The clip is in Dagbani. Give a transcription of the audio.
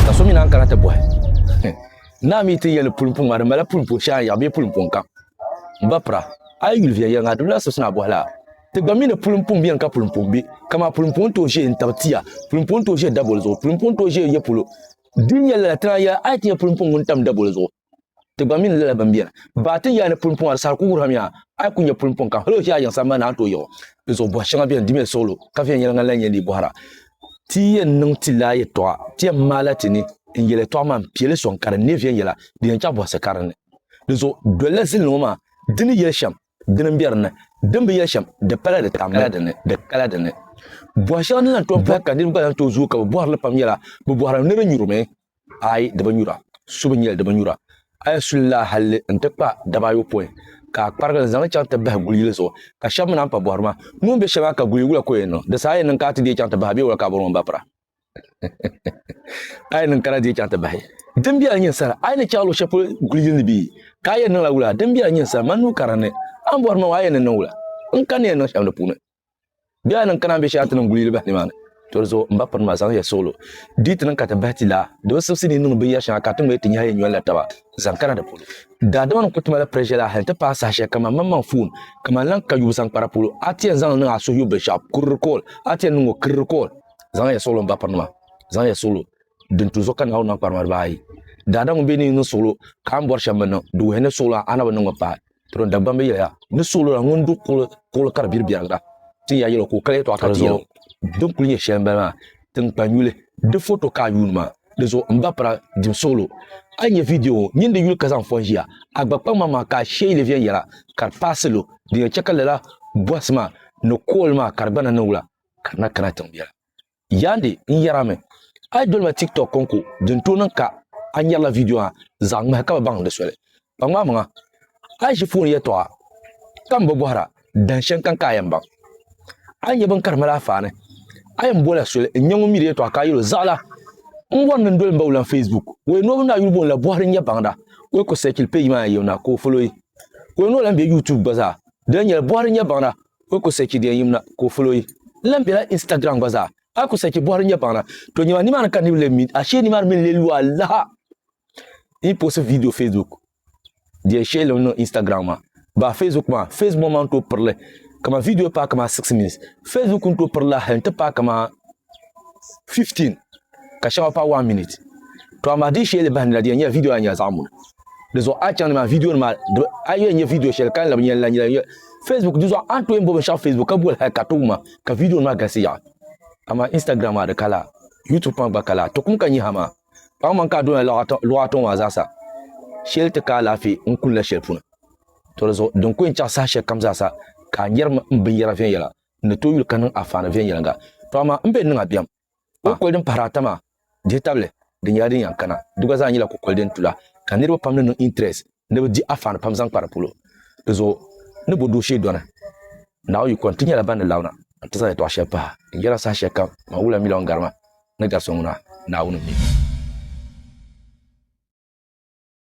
ka so mi naan kana ti bɔhi naa mi ti yɛli pulimpuŋ maa di mala pulimpuŋ shɛŋa yaɣa bee pulimpuŋ kam ba pira a yi yuli viɛl yɛliŋa di lula sibisi naa bɔhi la ti gba mi ni pulimpuŋ beni ka pulimpuŋ be kamaa pulimpuŋ tooi ʒe n-tabi tia pulimpuŋ tooi ʒe daboli zuɣu pulimpuŋ tooi ʒe ya polo din yɛli lala ti naan yɛli a yi ti nyɛ pulimpuŋ ŋun tam daboli zuɣu Ti gba mini lala bimbeni. Baa ti yaa ni pulimpɔŋɔ di saha ku wuhirimi yaa a yi ku nyɛ pulimpɔŋ ka hal o ʒi a yiŋ sambani ni a ni tooi yiɣi di zuɣu bɔhi shɛŋa beni di mini suɣulo ka viɛnyɛla ŋan lahi nyɛ ni yi bɔhira ti yɛn niŋ ti laa yɛtɔɣa ti yɛn maala ti ni n yɛli yɛtɔɣa maa n piɛli sɔŋ ka di neei viɛnyɛla din yɛn chaɣ bɔhisi ka dinni di zuɣu dolila zilini ŋɔ maa di ni yɛli shɛm dini n be dinni din bi yɛli shɛm di pala di tamla dinni di kala dinni bɔhi shɛŋa din lahi tom pahi ka niriba gba lahi tooi zooi ka bɛ bɔhiri li pam nyɛla bɛ bɔhira ni di nyurimi ayi di bi nyura, su bi nyɛli di bi nyura. A yi su li laa hal li nti kpa daba ayopɔin, ka a kparigi li zaŋ li chaŋ ti bahi guli yili zuɣu, ka shɛba mi naan pa bɔhiri maa, Ŋun be shɛli maa ka guli yi wula ka o yɛn niŋ? Di saha a yɛn niŋ ka a ti deei chaŋ ti bahi a bee wula ka a bɔri ŋɔ m ba pira? A yɛn niŋ ka na deei chaŋ ti bahi? Din biɛla n-nyɛ sara, a yi ni chaŋ luɣ shɛli polo guli yili ni bee? Ka a yɛn niŋla wula? Din biɛla n-nyɛ sara, mani nuu karili ni a ni bɔhiri ma ŋɔ a yɛn ni niŋ wula? N kani ni yɛn niŋ shɛm di puuni? Bɛ yaa niŋ Kanaan be shɛli a ti niŋ guli yili bahi nimaani. Toli zuɣu, m ba piri ma, zaŋ ya suɣilo. Di yi ti niŋ ka ti bahi ti la, di bi sibisi ni yi niŋdi binyɛr shɛŋa ka ti ŋmɛri ti nyɛhi yi nyɔlila taba zaŋ kana di polo. Daadama nim ku ti mali pressure la hal nti paai saha shɛli kaman maŋmaŋ foon kaman lan ka yubu zaŋ kpara polo. A ti yɛn zaŋ li niŋ a suhu yubu binshɛɣu kuri recall, a ti yɛn niŋ o kiri recall. Zaŋ ya suɣilo m ba piri nima, zaŋ ya suɣilo din tu zuɣu ka Naawuni niŋ kparima dibaa ayi. Daadam ŋun be ni yi niŋ suɣilo ka a ni bɔri shɛm mi niŋ, di wuhi ni suɣilo a na bi niŋ mi paai. Toro Dagbamb yɛli ya, N ni suɣili o la ŋun du kuɣili ka di biri biɛrigira. Tin ya yɛl o ka o kali yɛtɔɣa ka ti yɛl o. Din kuli nyɛ shɛli m-bala maa, tiŋkpanyuli di foto ka a yuuni maa. Di zuɣu m ba pira dim suɣili o. A yi nya viidiyo ŋɔ, nyin di yuli ka zaŋ fɔn ʒiya. A gba kpaŋmaŋ maa ka a shee yi leei viɛn yɛla, ka di paai salo. Din yɛn chɛ ka lala bɔhisi maa ni kool maa ka di gba na niŋ wula ka di na kana tiŋ biɛla? Yandi n yɛra mi, a yi dolima TikTok kɔŋko din tooi niŋ ka a nyarila vidiyo maa zaɣ ŋmahi ka bi baŋ di soli. Kpaŋmaamiŋa, a yi ʒi foon yɛtɔɣa ka m-bo bɔhira dahin shɛŋkan ka a yɛn baŋ, a ni nya bini ka di mali a faani. A yɛn bola soli n-nya ŋun mi di yɛtɔɣa ka a yɛl o, Zaɣila, n bɔri ni n doli m ba wulaŋ Facebook. O yɛn noo bini maa yuli booni la Bɔhiri N-Nya Baŋda. O yi ku sɛɛchili peeji maa yɛn yɛm na, ka o folo yi. Ka o yɛn noo lahi be YouTube gba zaa. Di lahi nyɛla Bɔhiri N-Nya Baŋda, N ku sɛchi di yɛn yim na ka o ful o yi. N lan bela Instagram gba zaa. A ku sɛchi bɔhiri n yɛn baŋ na. To nyɛma nimaani ka niriba lee mi ashee nimaani mi n-lee lu alaha. N yi poosi viidiyo Facebook di yɛn shɛli n niŋ Instagram maa. Ba Facebook maa, Facebook maa n-tooi piri li kaman viidiyo paai kaman six minutes. Facebook n-tooi piri lahi n-ti paai kaman fifteen ka shɛŋa paai one minute. To amaa di yi shee li bahi nira di yɛn nyɛla viidiyo maa nyɛla zaɣ muni. di zuɣu a chaŋ nimaa vidiyo nima a yi nyɛ vidiyo shɛli ka labi nyɛla nyɛla facebook di zuɣu a ni tooi bo binshaɣu facebook ka boli hali ka too ma ka vidiyo nima galisi yaɣa amaa instagram maa di kala youtube maa gba kala to kum ka nyɛ ha maa paɣa man ka a dona luɣa atɔŋ maa zaasa shɛli ti ka alaafee n kulila shɛli puuni to di zuɣu din kɔɛ n chaɣa saha shɛli kam zaasa ka a nyɛri binyɛra viɛnyɛla ni to yuli ka niŋ afaani viɛnyɛliŋga to amaa n bɛ niŋa bɛm Kukoli din pahiri ata maa dihi tabili di nyɛla din yan kana. Di gba zaa nyɛla kukoli din tula ka niriba pam ni niŋ interest ni bɛ di afaani pam zaŋ kpa di polo. Di zuɣu ni bo dooshee dɔni Naawuni yiko nti nyɛla ban ni labina nti zaŋ yɛtɔɣ shɛli pahi din yɛra saha shɛli kam man wula miliɔn garima ni gari so ŋuna Naawuni mi.